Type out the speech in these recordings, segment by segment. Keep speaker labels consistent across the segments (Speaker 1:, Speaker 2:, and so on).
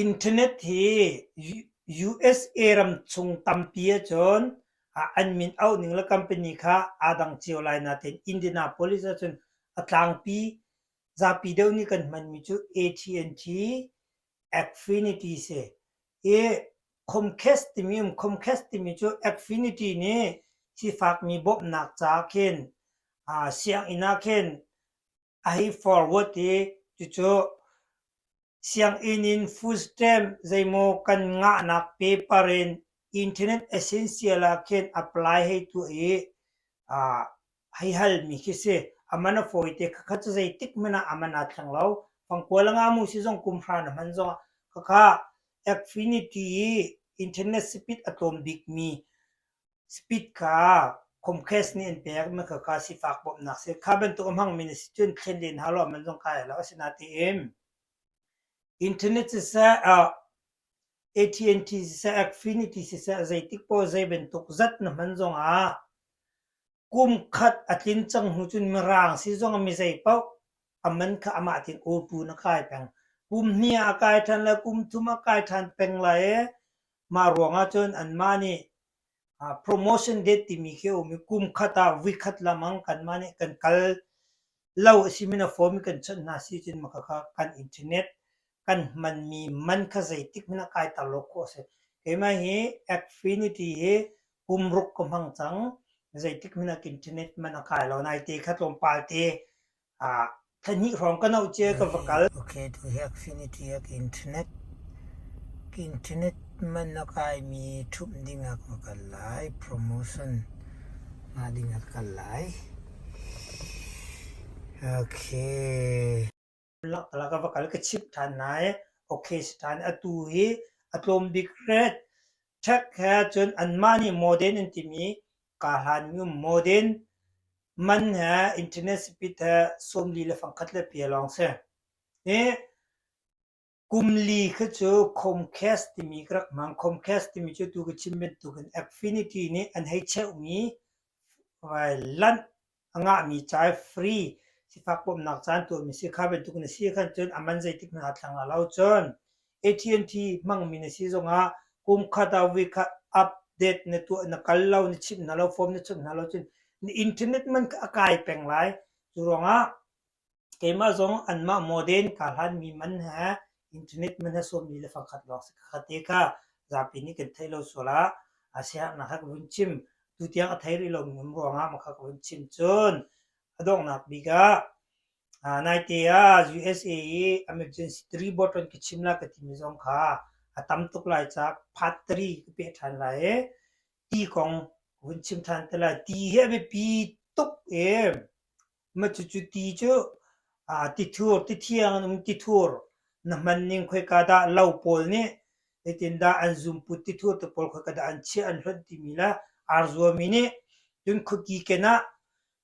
Speaker 1: Internet hi USA ram chung tampi ahcun an min auh ning le company kha aa dang cio lai nain Indianapolis ahcun a tlangpi zapi deuh nih kan hmanmi cu AT&T, Acfinity a si. Comcast timi um, Comcast timi cu Acfinity nih sifakmi bawmhnak ca khin sianginn ah khin a hei forward i cucu sianginn in foodstamp zeimaw kan ngahnak paper in internet essential ah khin apply hei tuah i uh, hei halmi khi si aman a fawite khakha cu zeitik man ah aman a thleng lo fangkual nga mu si zong kum hran a hman zong khakha Affinity i internet spit a tlawm bikmi Speed kha Comcast nih an pek mi kha ka sifak bawmhnak si. Kha bantuk a hmangmi na si cun thlen len hau lo man zong kai lo asinain internet siseh uh, AT&T siseh Affinity siseh zeitik po zei bantuk zat na hman zong ah kum khat a tlin cang hnu cun mirang si zong a mi zei paoh aman kha amah tin o tu na kai peng kum hnih a kai than le kum thum a kai than peng lai e Mah ruangah cun anmah nih promotion date timi khi a um i kum khat ah vuikhat lamang kanmah nih kan kal lo a si min a form i kan chawnh hna si cun mah khakha kan internet kan hmanmi man kha zeitik hmanh ah kai tar lo khawh a si. Keimah hi Affinity hi kum ruk ka hmang cang. Zeitik hmanh ah internet man a kai lo. Naite kha tlawmpal te Thahnih hrawng ka nauh cia ka va kal. Okay, tu hi Affinity ak Internet. Ka internet man a kaimi ṭhumh ding ah ka va kal lai. Promotion ngah ding ah ka kal lai. Okay. Lak ka va kal ka chimh ṭhan nai. Okay si ṭhan. Atu hi a tlawm bik hret. Check he cun anmah nih modern an timi kaa hlanmi um modern man he internet speed he sawmli le fangkhat le pia lawng si. Hi kumli khi cu Comcast timi ka rak hmang. Comcast timi cu tu ka chim bantukin Affinity nih an hei cheuhmi vai lanh a ngahmi ca i free sifak bawmhnak caan tuahmi si kha bantuk na si khan cun aman zeitik hmanh thlang ah lo cun AT&T hmangmi na si zongah kum khat ah week khat update na tuah na kal lo na chimh hna lo form na chimh hna lo cun na internet man a kai peng lai cu ruangah Keimah zong anmah modern kaa hlanmi man he internet man he sawmmi le fakhat lawng si ka khat i ka zapi nih kan theih lo sual ah a sianginn ah ka ka vun chim. Tutiang a thei rih lomi um ruangah mah kha ka vun chim. Cun a donghnak bik ah aa naite ah USA i emergency tri bottle ka chim lai ka timi zong kha a tam tuk lai caah part tri ka peh ṭhan lai i ti kong ka vun chim ṭhan te lai. Ti hi a biapi tuk i Cucu ti cu tithur, tithiang in um tithur na hman ning khoika dah lo pawl nih zeitindah an zumput tithur te pawl khoika dah an chiah an hlonh timi le aa zuammi nih cun khuaki kenah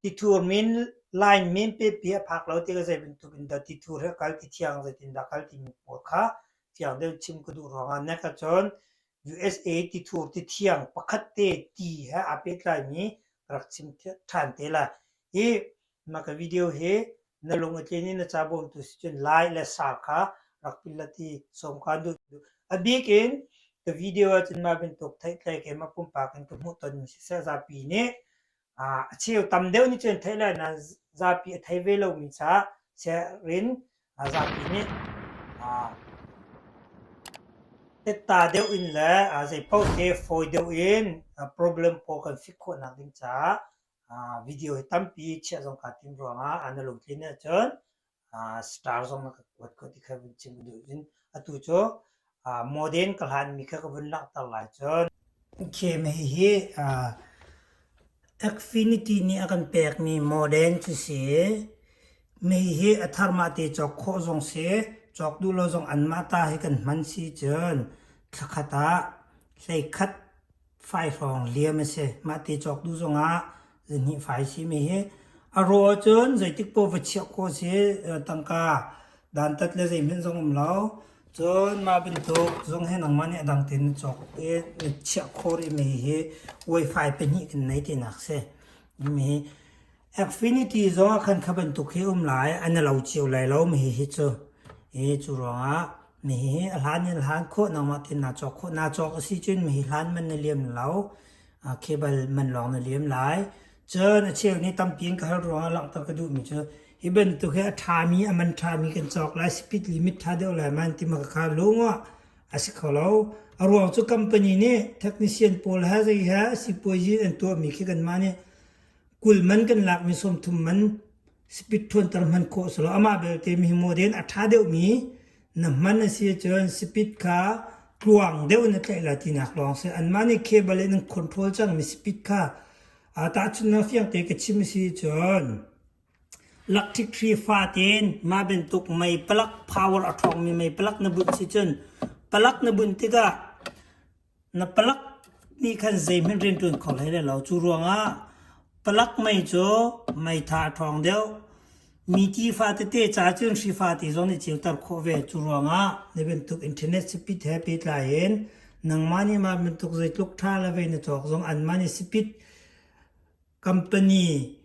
Speaker 1: tithur min, line min pepi a phak lo tiah ka zei bantuk in dah tithur hi a kal, tithiang zeitindah a kal timi pawl kha fiang deuh chim ka duh ruangah na ka cawn. USA tithur tithiang pakhat te ti he aa pehtlaimi ka rak chim ṭhan te lai. Hi mah ka video hi na lung a tlin i na ca bawmtu si cun lai le sa kha rak pilat i sawm kaan duh. A bik in ka video ahcun mah bantuk theihtlei keimah pumpak in ka hmuh ton mi siseh zapi nih a cheu tam deuh nih cun theih lai nain zapi a thei ve lomi ca sianginn zapi nih tetta deuh in le zeipaoh te fawi deuh in problem pawl kan fik khawhnak ding caah video hi tampi chiah zong kaa tim ruangah a na lungtlin ahcun uh, star zong na ka kuat ko ti kha vun chim duh in atu cu uh, modern ka hlan mi kha ka vun langhter lai cun game hi hi uh, Acfinity nih a kan pek mi modern cu si mei hi a thar ma te chok kho zong si chok du lo zong an ma ta hi kan man si chun thlakhat ah hlei khat Fai hrawng liam a si. Mah ti cawk duh zongah zihnih fai simi hi a rawh ahcun zeitik poh va chiah khawh a si. Tangka dantat le zeihmanh zong a um lo. Cun mah bantuk zung hi nangmah nih a dang tein na cawk i na chiah khawh rihmi hi Wi-Fi pahnih kan nei tinak a si. Mi Affinity zongah khan kha bantuk hi um lai an i lo cio lai lo mi hi hi cu i cu ruangah mi hi a hlan in a hlan khawh nangmah tin naa cawk khawh naa cawk a si cun mi hi hlan man na liam lo khebal man lawng na liam lai cun a cheu nih tampi in ka hal ruangah langhter ka duh mi cu hi bantuk hi a ṭhami a man ṭhami kan cawk lai speed limit ṭha deuh lai man ti ma ka kha lungah a si kho lo a ruang cu company nih technician pawl he zei he sipuazi an tuahmi khi kanmah nih kul man kan lak mi som thum man spit thuanter hman khawh si lo amah belte mi model a tha deuh mi na hman a si cun spit kha tluang deuh na tlaih la tinak lawng si an mah nih cable in control cang mi spit kha a ta chun na fiang te ka chim si cun electric tree fa ten ma bentuk mei palak power a thong mi mei palak na bunh si cun palak na bunh tikah Na palak nih khan zeihmanh rian ṭuan kho hlei lo. Cu ruangah palak mei cu meitha a ṭhawng deuh. Mi ti fate ca cun hri fate zong nih ceuter khawh ve. Cu ruangah na bantuk internet spit he pehtlai in nangmah nih mah bantuk zeitluk ṭha le vei na cawk zong anmah nih spit Company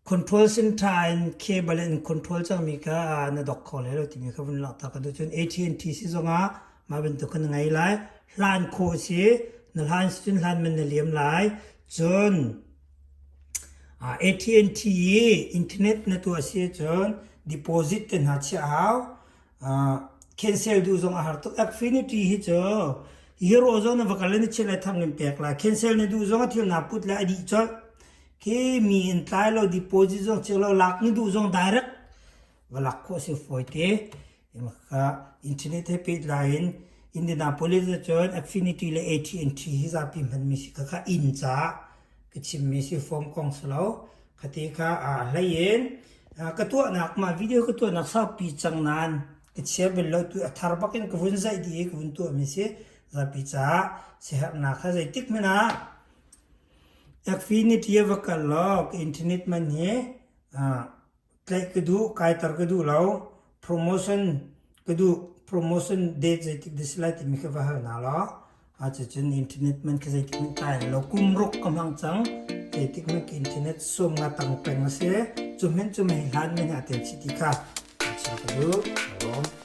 Speaker 1: control sin tha in cable in control cangmi kha na dok kho lai lo timi kha vun langhtak ka cun AT&T si zongah mah bantuk kan ngai lai hlan kho si na hlan cun hlan man na liam lai cun AT&T i internet na tuah si cun deposit te hna chiah hau cancel duh zong a har tuk. Affinity hi cu Eurozone a va kal in chiat le tham in pek la. Cancel na duh zong a thil naa put le a dih colh. Khi mi in tlai lo deposit zong chik lo lak ni duh zong direct va lak khawh si fawi te. Imaka internet he pet la in Indianapolis ah cun Affinity le AT&T hi zapi hman mi si kaka in ca ka chimmi si fawm kong si lo. Khati kha aa hlei in ka tuahnak ma video ka tuahnak saupi cang nain ka chia bel lo tu a thar bak in ka vun zaih dih i ka vun tuahmi si zapi caah siherhnak ha zeitik men ah Affinity a va kal law ka internet man hi Tlaih ka duh, kaiter ka duh lo. Promotion ka duh. Promotion date zeitik dah si lai timi kha va hal hna law cucun internet hmanh khi zeitik hmanh kai hal lo. Kum ruk ka hmang cang. Zeitik hmanh khi internet sawmnga tang peng a si. Cu hmanh cu mei hlan mei hna ten si ti kha chim ka duh. Lawm.